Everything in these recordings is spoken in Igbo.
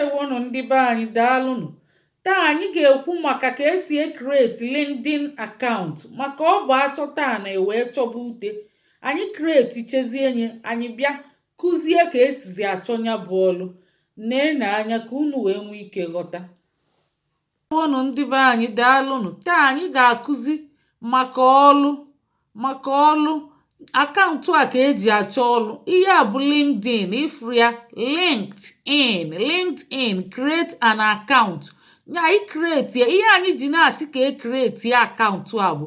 Ndewonụ ndị be anyị daalụnụ. Taa anyị ga-ekwu maka ka esi ekreti LinkedIn akaụntụ maka ọ bụ achọta ana e wee chọba ute. Anyị kreti chezie enye anyị bịa kụzie ka esizi achọ nya bụ ọlụ. Neenụ anya ka unu wee nwee ike ghọta. Ndewonụ ndị be anyị daalụnụ taa anyị ga-akụzi maka ọlụ maka ọlụ akaụntụ a ka eji achọ ọlụ ihe a bụ LinkedIn ịfụrụ ya LinkedIn LinkedIn create an account anyị create ya ihe anyị ji na-asị ka e create ya akaụntụ a bụ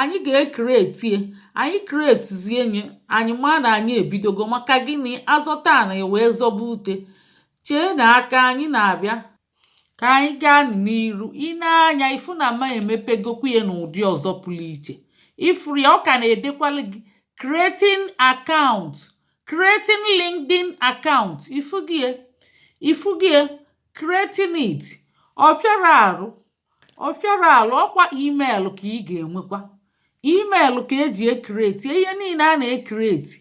anyị ga-ekreti anyị kretizie nye anyị ma na anyị ebidogo maka gịnị azọta ana wee zọba ute cheenụ aka anyị na-abịa ka anyị gaa n'iru i nee anya ịfụ na ma emepegokwu ya n'ụdị ọzọ pụrụ iche ifuru ya ọ ka na-edekwalụ gị creating account creating LinkedIn account ifugie ifugie creating it ọ fịara arụ ọ fịara ala ọkwa email ka ị ga-enwekwa email ka eji ekreti ihe niile a na-ekreti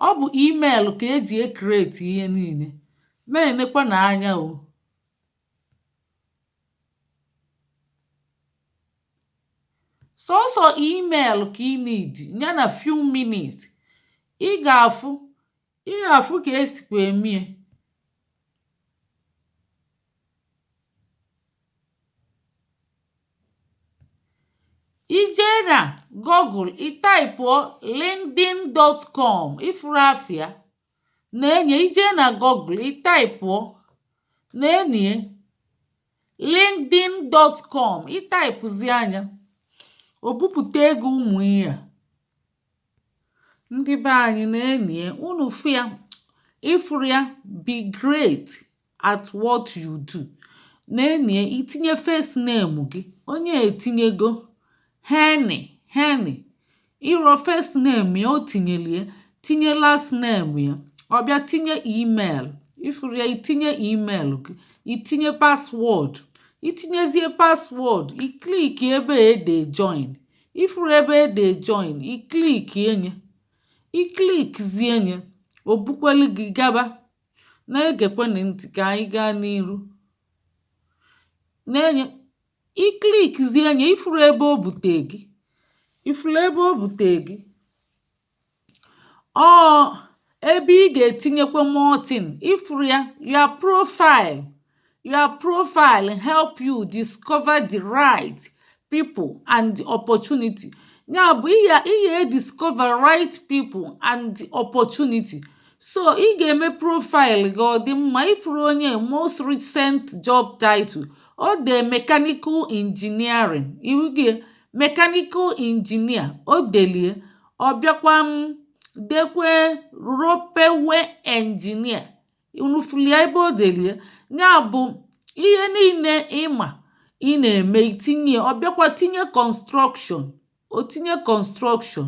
ọ bụ email ka eji ekreti ihe niile na-enekwanụ anya o sọsọ email ka ị need ya na few minutes ị ga-afụ ihe afụ ka esikwa emie ijee na google ị taịpụọ linkedin.com ịfụrụ afịa nee nye ijee na google ị taịpụọ nee nye linkedin.com ịtaịpụzia nya o bupụtego ụmụ ihe a ndị be anyị nee nye unu fụ ya ịfụrụ ya be great at what you do nee nye itinye first name gị onye a etinyego Henry Henry ịrọ first name ya o tinyelie tinye last name ya ọ bịa tinye email ịfụrụ ya itinye email gị itinye paswọọdụ itinyezie paswọọdụ iklik ebe a e de join ifuru ebe e dee join i klik enye i klikzie enye o bukwelu gị gaba na-egekwenụ ntị ka anyị gaa n'iru nee nye i klikzie enye ifuru ebe o bute gị ifuru ebe o bute gị ọọ ebe ị gà-ètinyekwa more thing ị fụrụ ya your profile your profile help you discover the right people and the opportunity ya bụ̀ ị yà ị yà e discover right people and the opportunity so ị gà-ème profile gị ọ̀ dị mma ị fụrụ onye a most recent job title o dee mechanical engineering ị wụgịe mechanical engineer o delie ọ bịakwa m dekwe ropeway engineer unu fụlụ ya ebe o delie ya bụ ihe niile ị ma ị na-eme i tinye ọ bịakwa tinye construction o tinye construction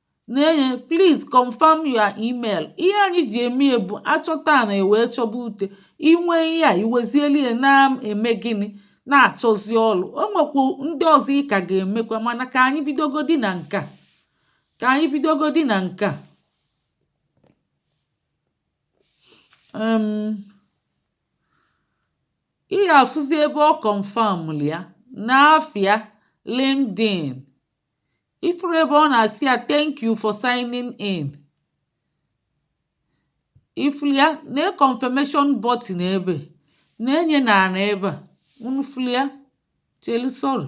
na-enye please confirm your email ihe anyị ji eme ya bụ a chọta na e wee chọba ute inwe ihe a i wezieli ya na-eme gịnị na-achọzi ọlụ o nwekwu ndị ọzọ ị ka ga-emekwa mana ka anyị bidogodi na nke a ka anyị bidogodi na nke a um, ị ga-afụzi ebe ọ confirm ya n'afịa LinkedIn ị fụrụ ebe ọ na-asị ya thank you for signing in ị fụrụ ya na confirmation button ebe na-enye na ana ebe a unu fụrụ ya chelu sorry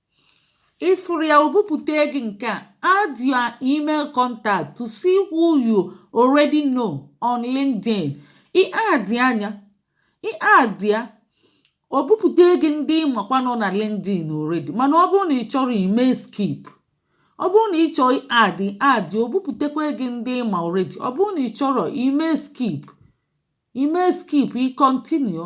Ị fụrụ ya o bupụte gị nke a, add your email contact to see who you already know on LinkedIn. Ị addịa nya, ị add ya, o bupụta gị ndị ị makwa nọ na LinkedIn already mana ọ bụrụ na ị chọrọ ime skip ọ bụrụ na ị chọọ add add o bupụtakwa gị ndị ị ma already ọ bụrụ na ị chọrọ ime skip i mee skip ị continue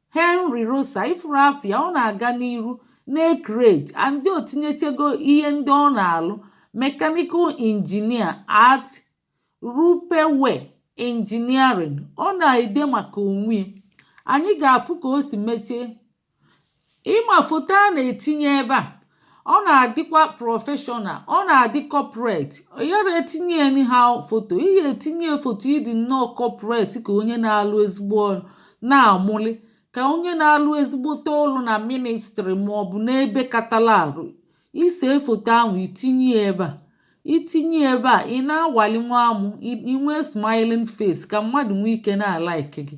Henry Rosa ị fụrụ afa ya ọ na-aga n'iru na-ecreate and o tinyechego ihe ndị ọ na-alụ mechanical engineer at Ropeway Engineering ọ na-ede maka onwe ya anyị ga-afụ ka o si mechie ị ma foto a na-etinye ebe a ọ na-adịkwa professional ọ na-adị corporate ị yara etinye anyhow foto ị ya-etinye foto ị dị nnọọ corporate ka onye na-alụ ezigbo ọrụ na-amụli ka onye na-alụ ezigbote ọrụ na ministry ma ọ bụ n'ebe katala arụ i see foto ahụ i tinye ebe a i tinye ebe a ị na-awali nwa amụ i nwee smiling face ka mmadụ nwee ike na-alike gị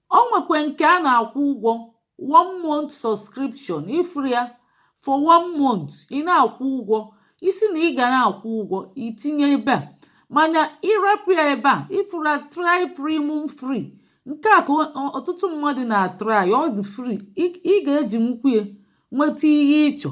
o nwekwe nke a na-akwụ ụgwọ one month subscription ifuru ya for one month ị na-akwụ ụgwọ isi na ị ga na-akwụ ụgwọ itinye ebe a mana ịrapụ ya ebe a ifuru try premium free nke a ka ọtụtụ mmadụ na-atry ọ dị free ị ga-eji nwukwu ya nweta ihe ịchọ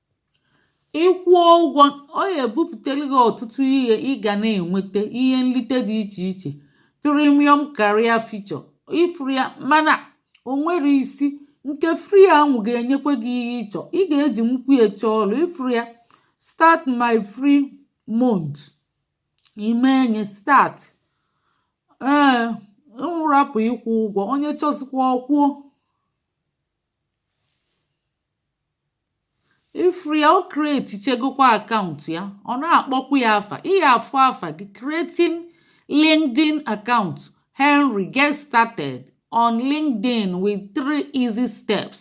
ị kwụọ ụgwọ ọ gà-èbupùtelu gị ọ̀tụtụ ihe ị gà na-ènwete ihe nlite dị ichè ichè premium career feature ị fụrụ ya mana ò nwere isi ǹkè free a nwụ̀ gà-ènyekwe gị ihe ị chọ̀ ị gà-ejì nwukwu ya chọọ ọlụ̀ ị fụrụ ya start my free month ì mee nye start ee ị wụrapụ̀ ịkwụ ụgwọ onye chọzikwa ọ kwụọ ịfụrụ ya o create chegokwa akaụntụ ya ọ na-akpọkwu ya afa ị ga-afụ afa gị creating LinkedIn account Henry get started on LinkedIn with three easy steps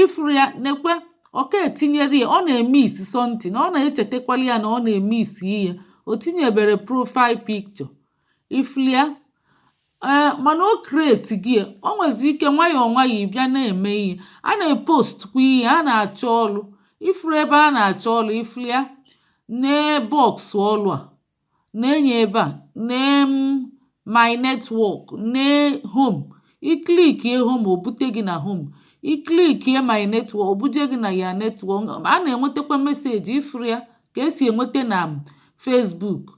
ịfụrụ ya nekwe ọka etinyere ya ọ na-emiss something ọ na-echetakwali ya na ọ na-emiss ihe o tinyebere profile picture ifulia ee mana o create gị o nwezi ike nwayọọ nwayọọ ịbịa na-eme ihe a na-epost kwa ihe a na-achọ ọlụ ifuru ebe a na-achọ ọlụ ifulia nee box ọlụ a na-enye ebe a nee my network nee home iklikie home o bute gị na home iklikie my network o buje gị na ya network a na-enwetakwa meseji ifuru ya ka esi enweta na Facebook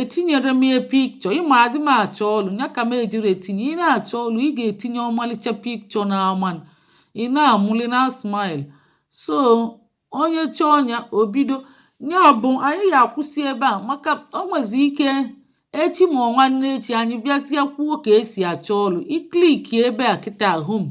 etinyere m ya picture ịma adị m achọ ọlụ nya ka m ejiri etinye ị na-achọ ọlụ ị ga-etinye ọmalịcha picture na aman ị na-amụli na smile so onye chọọ nya obido nya bụ anyị ga-akwụsị ebe a maka o nwezi ike echi ma nwanne echi anyị bịazie kwuo ka esi achọ ọlụ iklik ebe a kịta home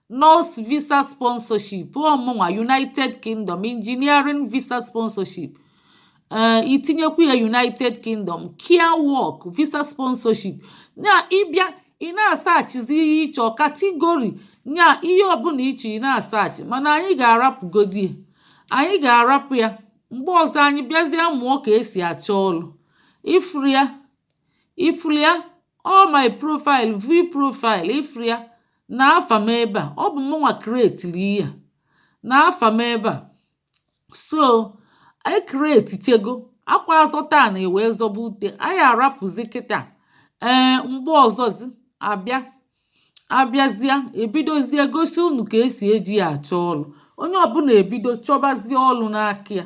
nurse visa sponsorship ọmụnwa united kingdom engineering visa sponsorship ee eh, itinyekwu ya united kingdom care work visa sponsorship ya ịbịa ị na-asearchzi ihe ịchọ category ya ihe ọbụla ịchọ ị na-asearch mana anyị ga-arapụgodi anyị ga-arapụ ya mgbe ọzọ anyị bịazie mụọ ka esi achọ ọlụ ifria all my profile view profile ifria nee afa m ebe a ọ bụ mụnwa createli ya nee afa m ebe a so anyị create chego akwa azọta ana ewee zọba ute anyị arapụzi kịta ee mgbe ọzọzi abịa abịazịa ebidozie gosi unu ka esi eji ya achọ ọlụ onye ọbụla ebido chọbazie ọlụ n'aka ya